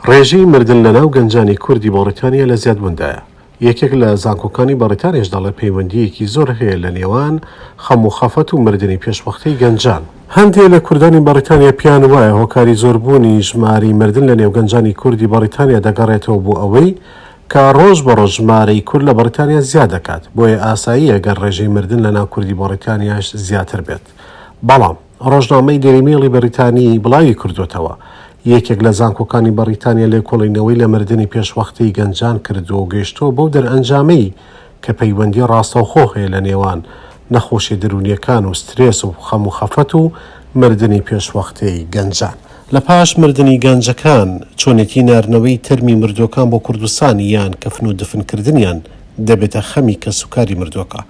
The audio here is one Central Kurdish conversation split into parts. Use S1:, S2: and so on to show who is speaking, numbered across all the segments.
S1: ڕێژەی مردن لەناو گەنجانی کوردی بەڕیتانیا لە زیادبووندایە. یەکێک لە زانکۆکانی بەڕیتانیاش دەڵێت پەیوەندییەکی زۆر هەیە لە نێوان خەم و خەفەت و مردنی پێشوەختەی گەنجان. هەندێ لە کوردانی بەڕیتانیا پێیان وایە هۆکاری زۆربوونی ژمارەی مردن لە نێو گەنجانی کوردی بەڕیتانیا دەگەڕێتەوە بۆ ئەوەی کە ڕۆژ بە ڕۆژ ژمارەی کورد لە بەڕیتانیا زیاد دەکات بۆیە ئاساییە گەر ڕێژەی مردن لەناو کوردی بەڕیتانیاش زیاتر بێت بەڵام ڕۆژنامەی دێلی مێڵی بەریتانی بڵاوی کردووەتەوە، یەکێک لە زانکۆکانی بەڕیتانیا لێکۆڵینەوەی لە مردنی پێشوەختەی گەنجان کردووە و گەیشتووە بەو دەرئەنجامەی کە پەیوەندی ڕاستەوخۆ هەیە لە نێوان نەخۆشیە دەروونیەکان و سترێس و خەم و خەفەت و مردنی پێشوەختەی گەنجان. لە پاش مردنی گەنجەکان، چۆنێتی ناردنەوەی تەرمی مردووەکان بۆ کوردستان یان کەفن و دفنکردنیان دەبێتە خەمی کەسوکاری مردووەکە.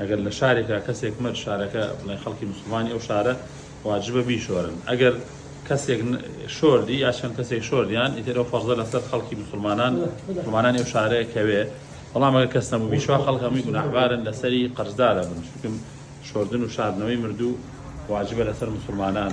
S2: ئەگەر لە شارێکا کەسێک مرد شارەکە بڵێن خەڵکی موسڵمانی ئەو شارە واجبە بیشۆرن ئەگەر کەسێک شۆردی یا چەند کەسێک شۆردیان ئیتر ئەو فەرزە لەسەر خەڵکی مسلمانان مسلمانانی ئەو شارەیە کەوێ بەڵام ئەگەر کەس نەبوو بیشوا خەڵک هەمووی گوناحبارن لەسەری قەرزدارە بن چونکم شۆردن و شاردنەوەی مردوو واجبە لەسەر مسلمانان